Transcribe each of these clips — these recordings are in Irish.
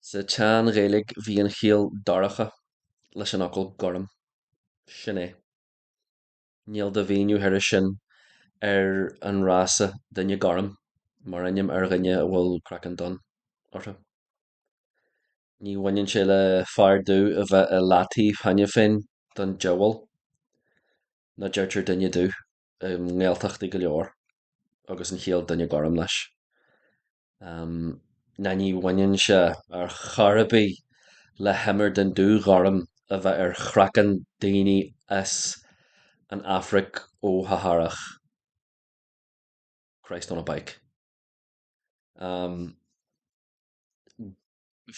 Sa tSean-Ghaeilge bhí an chiall 'dorcha' leis an fhocal 'gorm'. Sin é. Níl de mhíniú thairis sin ar an fhrása 'duine gorm' mar ainm ar dhuine a bhfuil craiceann donn orthu. Ní bhaineann sé le fear dubh a bheith i leataobh cheana féin don diabhal ná deirtear 'duine dubh' i nGaeltachtaí go leor agus an chiall 'duine gorm' leis. ná ní bhaineann sé ar chor ar bith le himir den dúghorm a bheith ar chraiceann daoine as an Afraic fho-Shahárach. Christ on a Bike.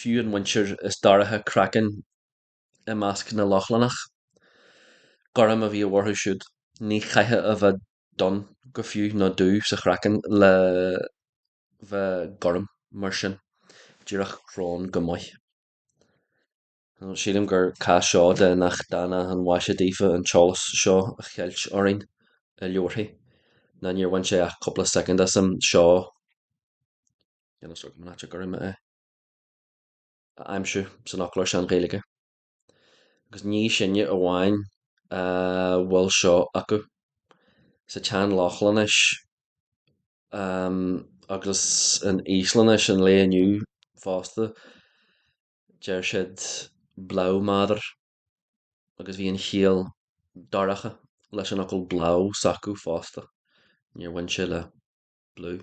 Fiú an mhuintir is dorcha craiceann i measc na Lochlannach, gorm a bhíodh orthu siúd, ní chaithfeá a bheith donn go fiú nó dubh sa chraiceann le bheith gorm, mar sin, díreach crón go maith. Sílim gur cás seo de nach dána an mhaise daofa an t-eolas seo a cheilt orainn i leabharthaí, ná níor bhain sé ach cúpla soicind asam seo so gorm é a aimsiú san fhoclóir sean-Ghaeilge. agus ní sinne amháin a bhfuil seo acu. Sa tSean-Lochlainnis agus in Íoslainnis an lae inniu fosta, deir siad blámaður agus bhí an chiall dorcha leis an fhocal blá s'acu fosta, níor bhain sé le blue.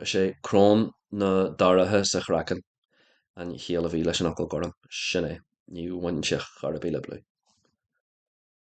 Is é crón ná dorcha sa chraiceann an chiall a bhí leis an fhocal gorm, sin é, níor bhain sé ar chor ar bith le blue.